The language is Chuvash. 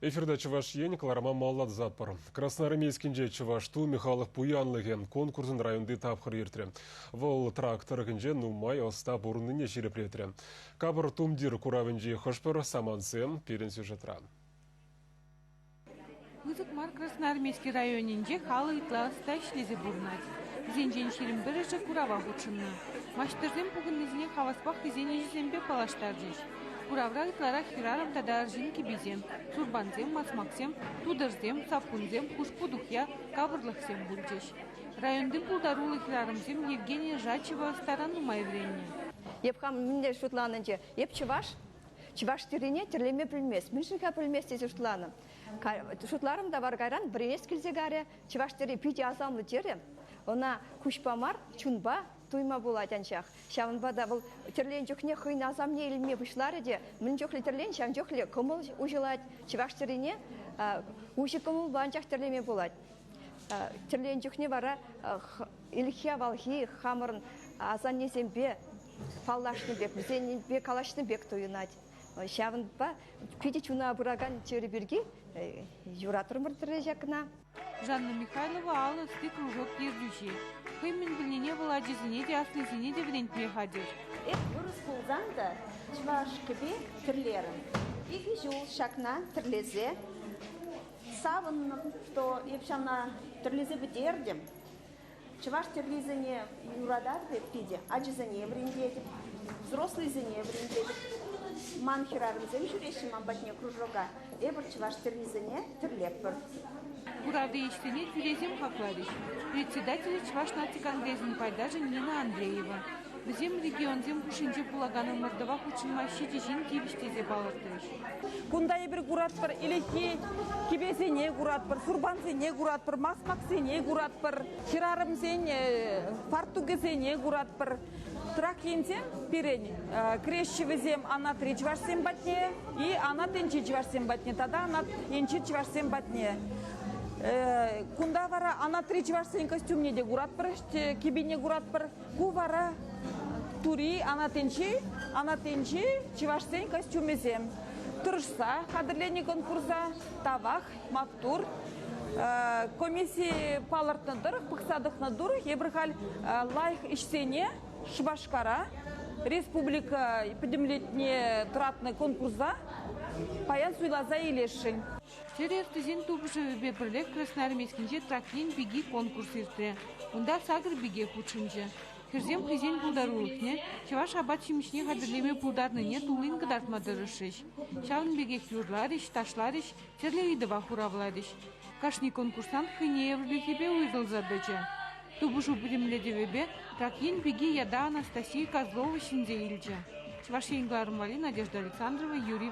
Эфирта Чӑваш Ен кӑларӑма маллатсатпӑр. Красноармейскинче чӑваш ту михалӑх пуянлӑхӗ конкурсӑн районти тапхӑр иртрӗ. Вӑл трак тӑрӑхӗнче нумай ӑста пурӑннине ҫирӗплетрӗ. Капӑр тумтир куравӗнчи хӑш-пӗр самантсем пирӗн сюжетра. Пысӑк мар Красноармейски районӗнче халӑх ытла ӑста ӗҫлесе пурӑнать. Вӗсенчен ҫирӗм пӗрӗшӗ курава хутшӑннӑ. Маҫтӑрсем пухӑннисене хаваспах хӑйсен ӗҫӗсемпе паллаштарчӗҫ. Куравра ытларах хӗрарӑм тата арҫын кӗписем, сурпансем, масмаксем, тутӑрсем, саккунсем, хушпу-тухья, капӑрлӑхсем пулчӗҫ. Районти пултаруллӑ хӗрарӑмсем Евгения Жачева ӑстаран нумай вӗреннӗ. Эп хам мӗнле шутланӑччӗ? Эп чӑваш. Чӑваш тӗррине тӗрлеме пӗлмест. Мӗн-ши-ха пӗлмест тесе шутланӑ. Шутларӑм та вара кайран бренец килсе карӗ, чӑваш тӗрри питӗ асамлӑ терӗ. Ӑна куҫпа мар, чунпа туйма пулать анчах. Ҫавӑнпа та вӑл тӗрленӗ чухне хӑйӗн асамне илме пуҫларӗ те мӗн чухлӗ тӗрлен, ҫавӑн чухлӗ кӑмӑл уҫӑлать. Чӑваш тӗррине уҫӑ кӑмӑлпа анчах тӗрлеме пулать. Тӗрленӗ чухне вара Ӗлӗкхи авалхи хамӑрӑн асаннесемпе паллашнӑ пек, вӗсенпе калаҫнӑ пек туйӑнать. Ҫавӑнпа питӗ чуна пыракан чир пирки юратрӑмӑр ҫакна. Жанна Михайлова алӑ ӑсти кружок ертӳҫи. Хӑй мӗн пӗлнине вӑл ачисене те, аслисене те вӗрентме хатӗр. Эп вырӑс пулсан та чӑваш кӗпи тӗрлерӗм. Икӗ ҫул ҫакна тӗрлесе савӑннӑм, что эп ҫавна тӗрлесе пӗтертӗм. Чӑваш тӗррисене юрататӑп эп питӗ, ачасене вӗрентетӗп, взрослӑйсене вӗрентетӗп. Ман хӗрарӑмсем ҫӳреҫҫӗ ман патне кружока, эпир чӑваш тӗррисене тӗрлетпӗр. Кураври ӗҫсене тӳресем хакларӗҫ председателӗ Чӑваш наци конгресӗн пайташӗ Нина Андреева. Вӗсем регионсем хушшинче пулакан ӑмӑртӑва хутшӑнма ҫичӗ ҫын тивӗҫ тесе палӑртрӗҫ. Кунта эпир куратпӑр ӗлӗкхи кӗпесене куратпӑр, сурпансене куратпӑр, масмаксене куратпӑр, хӗрарӑмсен фартукӗсене куратпӑр. Трак енчен пирӗн кӗреҫҫӗ вӗсем анатри чӑвашсем патне, и анат енчи чӑвашсем патне тата анат енчи чӑвашсем патне. Кунта вара анатри чӑвашсен костюмне те куратпӑр, кӗпине куратпӑр. Ку вара Тури Анатинчи, Анатинчи чӑвашсен костюмӗсем. Тӑрӑшса хатӗрленӗ конкурса тавах, маттур. Комисси палӑртнӑ тӑрӑх, пӑхса тӑкнӑ тӑрӑх, эпир халь лайӑх ӗҫсене Шупашкара республика пӗтӗмлетне тӑратнӑ конкурса паян суйласа илесшӗн. Чӗр ертӳсен тупӑшӑвӗпе пӗрлех Красноармейскинче Трак ен пики конкурс иртрӗ. Унта сакӑр пике хутшӑнчӗ. Хӗрсем хӑйсен пултарулӑхне чӑваш апат-ҫимӗҫне хатӗрлеме пултарнине туллин кӑтартма тӑрӑшрӗҫ. Ҫавӑн пекех юрларӗҫ, ташларӗҫ, тӗрлӗ ыйтӑва хуравларӗҫ. Кашни конкурсант хӑйне евӗрлӗхӗпе уйрӑлса тӑчӗ. Тупӑшу пӗтӗмлетӗвӗпе Трак ен пики ята Анастасия Козлова ҫӗнсе илчӗ. Чӑваш Ен кӑларӑмварри Надежда Александрова, Юрий